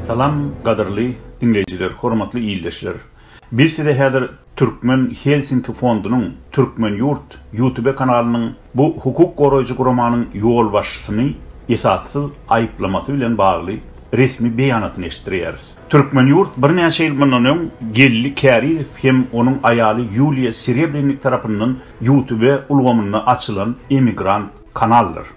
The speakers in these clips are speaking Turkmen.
Salam gadyrly diňleýjiler hormatly ildeşler biz size häzir Türkmen Helsinki fondunyň Türkmen ýurt ýutube kanalynyň bu hukuk goraýjy guramanyň ýolbaşçysyny esassyz aýyplamasy bilen bagly resmi beýanatyny eşitdirýäris. Türkmen ýurt birnäçe ýyl mundan öň Geldi Kärizow hem onuň aýaly Ýuliýa Serebrennik tarapyndan ýutube ulgamynda açylan emigrant kanaldyr.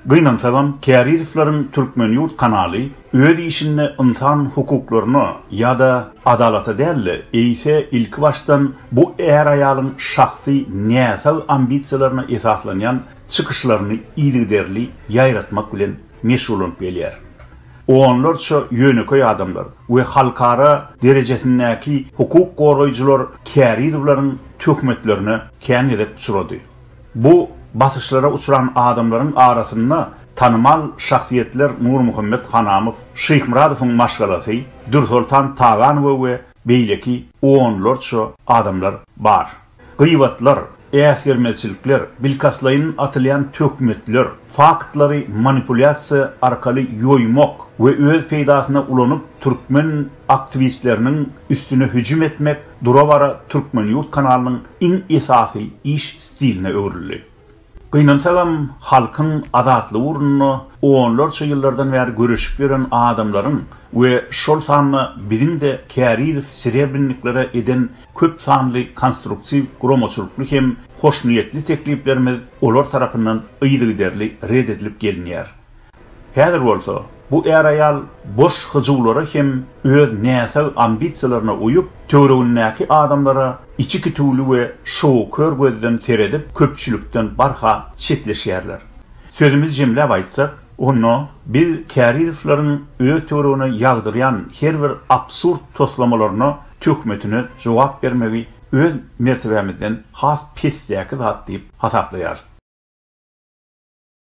Gynansagam, Kärizowlaryň Türkmen ýurt kanaly öz işinde ynsan hukuklaryna ýa-da adalata däl-de, eýse ilkibaşdan bu är-aýalyň şahsy näsag ambisiýalaryna esaslanýan çykyşlaryny yzygiderli ýaýratmak bilen meşgullanyp gelýär. Onlarça ýönekeý adamlar we halkara derejesindäki hukuk goraýjylar Kärizowlaryň töhmetlerine kän gezek uçrady. Bu basyşlara uçran adamlaryň arasynda tanymal şahsyýetler Nurmuhammet Hanamow, Şyhmyradowyň maşgalasy Dürsoltan Taganowa we beýleki onlarça adamlar bar. Gybatlar, äsgermezçilikler, bilkastlaýyn atylýan töhmetler, faktlary manipulýasiýa arkaly ýoýmak we öz peýdasyna ulanyp türkmen aktwistleriniň üstüne hüjüm etmek dura-bara Türkmen ýurt kanalynyň iň esasy iş stiline öwrüldi. Gynansagam, halkyň azatlygy ugrunda onlarça ýyllardan bäri göreşip ýören adamlaryň we şol sanda biziň-de kärizow sirebrniklere eden köp sanly konstruktiw guramaçylykly hem hoşniýetli tekliplerimiz olar tarapyndan yzygiderli red edilip gelinýär. Häzir bolsa, bu är-aýal boş hyjuwlara hem öz näsag ambisiýalaryna uýup, töweregindäki adamlara içi kitüwli we şowkör gözden seredip, köpçülikden barha çetleşýärler. Sözümizi jemläp aýtsak, onda biz Kärizowlaryň öz töweregine ýagdyrýan her bir absurd toslamalaryna, töhmetine jogap bermegi öz mertebämizden has pesdäki zat diýip hasaplaýarys.